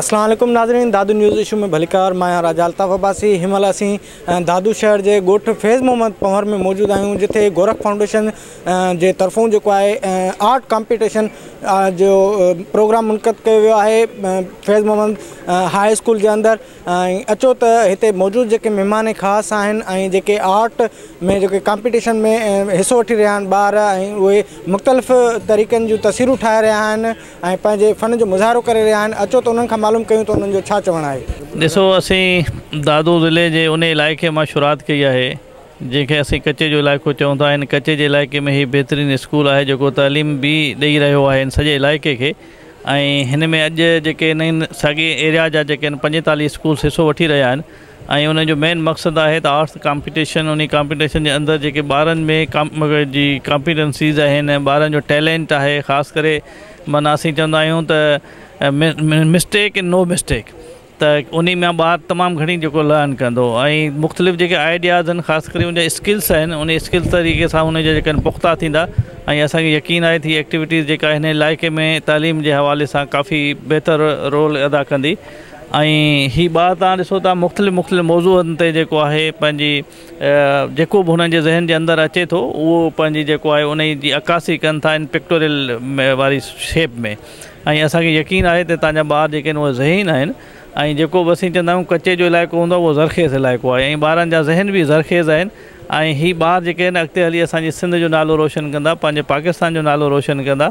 اسلام عليڪم ناظرين دادو نيوز اشو ۾ ڀليڪار مان آهيان راجا الطاف عباسي هن مهل اسين دادو شهر جي ڳوٺ فيض محمد پنهور ۾ موجود آهيون جتي گورک فائونڊيشن جي طرفون جيڪو آهي آرٽ ڪامپيٽيشن جو پروگرام منعقد ڪيو ويو آهي فيض محمد هاء اسڪول جي اندر ۽ اچو ته هتي موجود جيڪي مهمان خاص آهن ۽ جيڪي آرٽ ۾ جيڪي ڪامپيٽيشن ۾ حصو وٺي رهيا آهن ٻار ۽ اهي مختلف طريقن جون تصويرون ٺاهي رهيا آهن ۽ پنهنجي فن جو مظاهرو ڪري رهيا آهن اچو ته انهن کان معلوم ڪيون ته انهن جو ڇا چوڻ آهي. ڏسو اسين دادو ضلعي جي انهي علائقي مان شروعات ڪئي آهي جنهن کي اسين ڪچي جو علائقو چئون ٿا هن ڪچي جي علائقي ۾ هي بهترين اسڪول آهي جيڪو تعليم به ڏئي رهيو آهي هن سڄي علائقي کي ۽ هن ۾ اڄ جيڪي نئين ساڳي ايريا جا جيڪي آهن پنجيتاليهه اسڪولس حصو وٺي رهيا آهن ۽ انهن جو مين مقصد آهي ته آرٽس ڪامپيٽيشن انهي ڪامپيٽيشن جي اندر جيڪي ٻارن ۾ جي ڪامپيٽنسيز آهن ۽ ٻارن جو ٽيلينٽ آهي خاص ڪري معنيٰ اسين چوندا آهيون ته مسٽيڪ ان نو مسٽيڪ ته انهي ۾ ٻار تمام گهڻي جيڪو لرن ڪندو ۽ مختلف جيڪي آئيڊياز آهن خاص ڪري ان جا اسڪلس آهن انهي اسڪلس طريقي سان ان جا جيڪا پختا ٿيندا ۽ اسان کي يقين آهي ته هي ايڪٽيوٽيز جيڪا هن علائقي ۾ تعليم جي حوالي سان ڪافي بهتر رول ادا ڪندي ۽ هي ٻار توهان ڏسو ٿا مختلف مختلف موضوعن تي جيڪو آهي پنهنجي جيڪو به هنن جي ذهن جي اندر اچي ٿو اهو پنهنجي جيڪو آهي انهي جي عڪاسي ڪن ٿا ان پڪٽوريل واري شيپ ۾ ۽ اسان کي يقين آهي ته تهان جا ٻار جيڪي آهن اهي ذهين آهن ۽ جيڪو به اسين چوندا آهيون ڪچي جو علائقو هوندو آهي اهو زرخيز علائقو آهي ۽ ٻارن جا ذهن به زرخيز آهن ۽ هي ٻار جيڪي آهن اڳتي هلي اسان جي سنڌ جو نالو روشن ڪندا پنهنجي پاڪستان جو نالو روشن ڪندا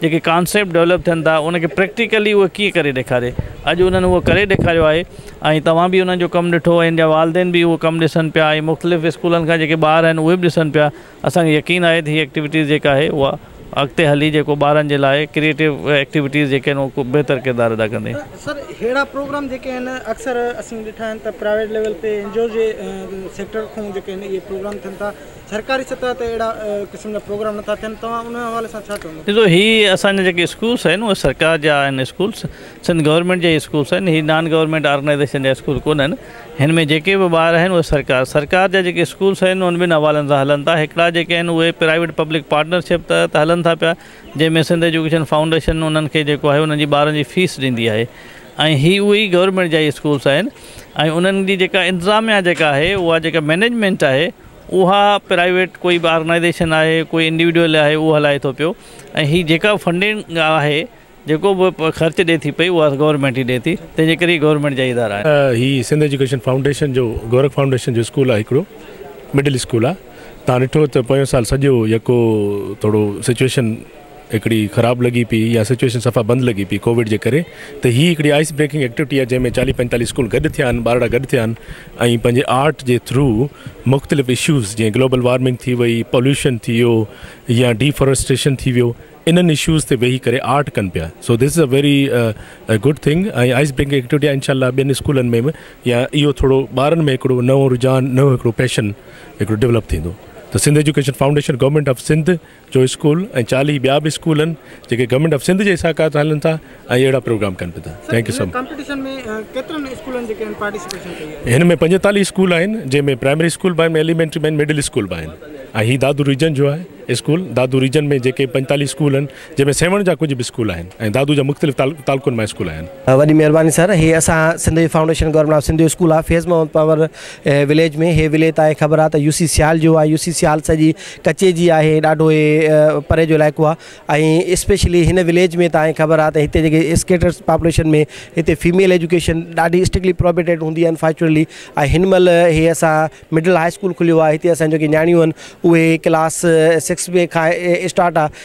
جيڪي ڪانسيپٽ ڊولپ ٿين ٿا ان کي پريڪٽيڪلي هو ڪيئن ڪري ڏيکاري اڄ انهن هو ڪري ڏيکاريو آهي ۽ توهان به انهن جو ڪم ڏٺو ان جا والدين به اهو ڪم ڏسن پيا ۽ مختلف اسڪولن کان جيڪي ٻار آهن اهي به ڏسن پيا اسانکي يقين آهي ته هي ايڪٽيوٽيز جيڪا آهي اها اڳتي هلي جيڪو ٻارن جي لاء ڪريئيٽو ايڪٽيوٽيز جيڪي آهن اهو خوب بهتر ڪردار ادا ڪندي. سر ههڙا پروگرام جيڪي آهن اڪثر اسين ڏٺا آهن ته پرائيويٽ ليول تي اين جي او جي سيڪٽر کان جيڪي آهن اهي پروگرام ٿين ٿا سرڪاري سطح تي اهڙا قسم جا پروگرام نٿا ٿين توهان ان حوالي سان ڇا چوندو. ڏسو هي اسان جا جيڪي اسڪولس آهن اهي سرڪار جا آهن اسڪولس سنڌ گورنمينٽ جا هي اسڪولس آهن هي نان گورنمينٽ آرگنائيزيشن جا اسڪول ڪونه آهن هن ۾ جيڪي به ٻار آهن اهي سرڪار سرڪار جا جيڪي اسڪولس آهن اهي ٻن حوالن سان هلن ٿا هڪڙا جيڪي آهن اهي پرائيويٽ پبلڪ پارٽنرشپ تحت هلن ٿا پيا جنهن ۾ سنڌ ايجوڪيشن فائونڊيشن انهن کي جيڪو آهي انهن جي ٻارن جي فيس ڏيندي آهي ۽ هي اهي گورنمينٽ جا ئي اسڪولس آهن ۽ انهن جي جيڪا انتظاميا جيڪا آهي اها جيڪا مينيجمينٽ آهي اها پرائيويٽ ڪوئي به آرگنائيزيشن آهي ڪوئي انڊيوڊيول آهي اهو هلائي ٿو پيو ۽ هي جيڪا به فنڊنگ آهي جيڪو به خرچ ڏي ٿي پئي اها گورنمينٽ ئي ڏي ٿي تنهنجي ڪري هي گورنمينٽ جا ئي ادارا آهن. هي سنڌ ايجوڪيشن فائونڊيشن جو گورک فائونڊيشن جو اسڪول آهي هڪڙو مڊل اسڪول آهي تان ڏٺو ته پويان سال سڄو يڪو ٿورو سچويشن هڪڙي خراب لڳي پئي يا سچوئيشن صفا بند لڳي پئي ڪووڊ جي ڪري ته هي هڪڙي آئس بريڪنگ ايڪٽيوٽي آهي جنهن ۾ چاليهه پنجتاليهه اسڪول گڏ ٿيا آهن ٻارڙا گڏ ٿيا آهن ۽ پنهنجي آرٽ جي ٿرو مختلف اشوز جيئن گلوبل وارمنگ ٿي وئي پوليوشن ٿي ويو يا ڊي فوريسٽريشن ٿي ويو انهن اشوز تي ويهي ڪري آرٽ ڪن پيا so this is a very good thing ۽ ice breaking activity آهي انشاء الله ٻين اسڪولن ۾ به يا اهو ٿورو ٻارن ۾ هڪڙو نئون رجحان نئون هڪڙو پيشن هڪڙو ڊولپ ٿيندو ته Sindh education foundation government of Sindh جو اسڪول ۽ چاليهه ٻيا به اسڪول آهن جيڪي گورنمينٽ آف سنڌ جي ساڪات هلن ٿا ۽ اهڙا پروگرام ڪن به ٿا thank you so much competition ۾ ڪيترن اسڪولن جيڪي آهن پارٽيسپيشن ڪئي آهي هن ۾ پنجيتاليهه اسڪول آهن جنهن ۾ پرائمري اسڪول به آهن ايليمينٽري به آهن مڊل اسڪول به آهن ۽ هي دادو ريجن جو آهي اسڪول دادو ريجن ۾ جيڪي پنجيتاليهه اسڪول آهن جنهن ۾ سيوهڻ جا ڪجهه به اسڪول آهن ۽ دادو جا مختلف تعلقن مان اسڪول آهن. وڏي مهرباني سر هي اسان سنڌ جي فائونڊيشن گورنمينٽ آف سنڌ جو اسڪول آهي فيض محمد پنور اهي وليج ۾ هي وليت آهي خبر آهي ته يو سي سيال جو آهي يو سي سيال سڄي ڪچي جي آهي ڏاڍو هي پري جو علائقو آهي ۽ اسپيشلي هن وليج ۾ تاهي خبر آهي ته هتي جيڪي اسڪيٽرس پاپوليشن ۾ هتي فيميل ايجوڪيشن ڏاڍي اسٽرڪلي پروبيٽيڊ هوندي آهن فارچونيٽلي ۽ هن مهل هي اسان مڊل هاء اسڪول کليو آهي هتي اسان جيڪي نياڻيون آهن اهي ڪلاس سڪس بي کان اسٽارٽ آهي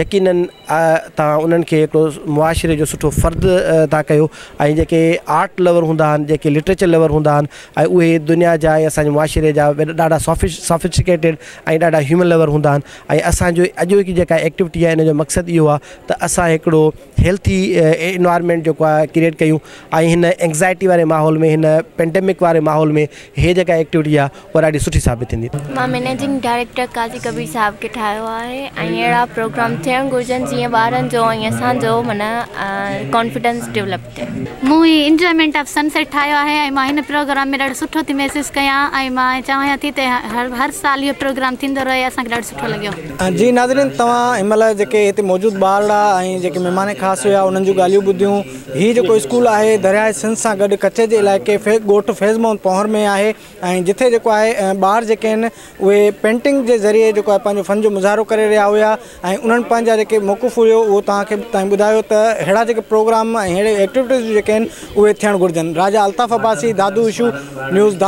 يقيناً توهان انهن کي هڪڙو معاشري جو سٺو فرد ٿا ڪيو ۽ جيڪي آرٽ لور هوندا آهن جيڪي لٽريچر لور هوندا آهن ۽ اهي دنيا جا ۽ اسان جي معاشري جا ڏاڍا سافيس سافيسٽيڪيٽيڊ ۽ ڏاڍا هيومن لور هوندا آهن ۽ اسان جو اڄوڪي جيڪا ايڪٽوٽي آهي ان جو مقصد اهو آهي ته اسان هڪڙو هيلٿي انوائرمينٽ جيڪو آهي ڪريئيٽ ڪيون ۽ هن اينگزائٽي واري ماحول ۾ هن پينڊمڪ واري ماحول ۾ هي جيڪا ايڪٽيوٽي آهي هو ڏاڍي سٺي ثابت ٿيندي مان مينيجنگ ڊائريڪٽر قاضي ڪبير صاحب کي ٺاهيو آهي ۽ اهڙا پروگرام ٿيڻ گهرجن جيئن ٻارن جو ۽ اسان جو معنيٰ ڪانفيڊنس ڊولپ ٿئي. مون هي انجوائمينٽ آف سن سيٽ ٺاهيو آهي ۽ مان هن پروگرام ۾ ڏاڍو سٺو ٿي محسوس ڪيان ۽ مان چاهيان ٿي ته هر سال اهو پروگرام ٿيندو رهي اسان کي ڏاڍو سٺو لڳيو. جي ناظرين توهان هن مهل جيڪي هتي موجود ٻارڙا ۽ جيڪي مهمان خاص هيا انهن جون ڳالهيون ٻڌيون هي جيڪو اسڪول آهي درياهه سنڌ سان گڏ ڪچي جي علائقي ڳوٺ فيض محمد پونهر ۾ آهي ۽ جتي جيڪو آهي ٻار جيڪي آهن اهي پينٽنگ جي ذريعي جيڪو آهي پنهنجو فن جو مظاهرو ڪري رهيا هيا ۽ انهن پنهنجا جيڪي موقف هيو اهو توهان کي تائين ٻڌايو ته اهڙا جيڪي پروگرام ۽ اهڙي ايڪٽيوٽيز جيڪي آهن اهي ٿيڻ گهرجن راجا الطاف عباسي دادو اشو نيوز